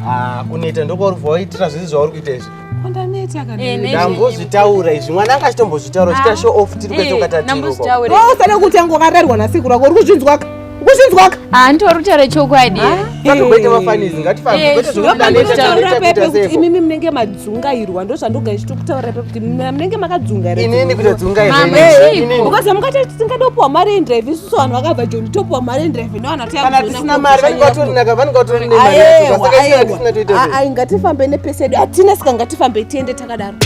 Ah, kuneta ndokwauri kuva waitira zvese zvauri kuita izvi ndambozvitaura izvi mwana anga achitombozvitaura chita show off tiri kwete ukatatirousada kuti angokararirwa nasekuru ako uri kuzvinzwaka Ukusinzwaka? Ah, nditori kutaura chokwadi. Ngatigoite mafanizi, ngatifambe. Eh, Kwete zvekuti ndaneta, Ndokutaura ndaneta, pepe kuita kuti seko. imimi munenge madzungairwa ndozvandoga ndichitokutaura pepe kuti mna- munenge makadzunga here Inini kuita dzunga Mama, inini. Eh, chiiko? Inini. because mukati tisingade kupiwa mari yendrive isusu vanhu vakabva joni topiwa mari yendrive nevanhu Kana tisina mari, vanenge vatori naka, vanenge vatori nemari yacho. Saka isina tisina toita sei? aewa ngatifambe nepese yedu hatina sika ngatifambe tiende takadaro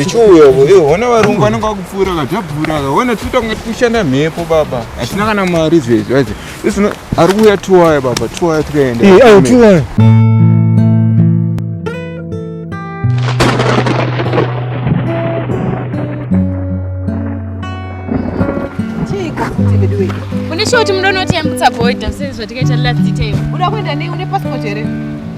ichiuyaona varungu vanenge vakupfuura kadhabvura kaona totanga tikushanda mhepo baba hatina kana mari zvezvi Isina ari kuuya tuwaya baba tuwaya tikaenda. Eh, ayo tuwaya. Munishoti munonoti yambutsa boy dose zvatikaita last detail. Uda kuenda nei une passport here?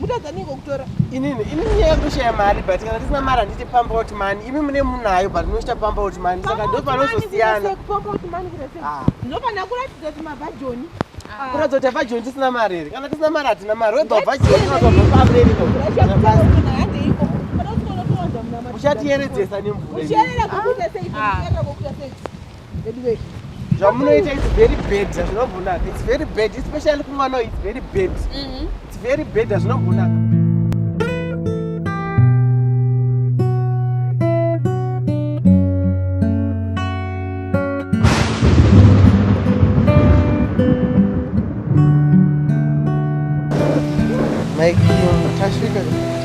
mutadza ningo kutora inini inini nyaya yekushaya mari but kana tisina mari handiti pump out money imi mune munayo but munoita pump out money saka ndo panozosiyana ah. ndopana kuratidza kuti mavhajoni ah. kuratidza kuti avhajoni tisina mari here kana tisina mari hatina mari wega vhajoni uchatiyeredzesa nemvura veduwee zvamunoita its very bad hazvinombonaka its very bad especially kumwana its very bad mhm. its very bad hazvinombonaka Mike, tasvika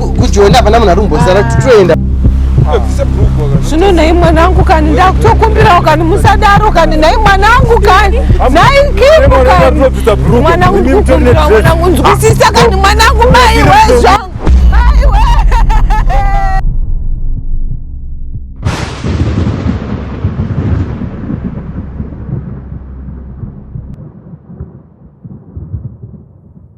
kujoni hapana munhu ari kumbosara kuti toenda zvino nhai mwanangu kani ndakutokumbirawo kani musadaro kani nhai mwanangu kani nhai kipu kani mwanangu ndikukumbirawo mwanangu nzwisisa kani mwanangu maiwe zvangu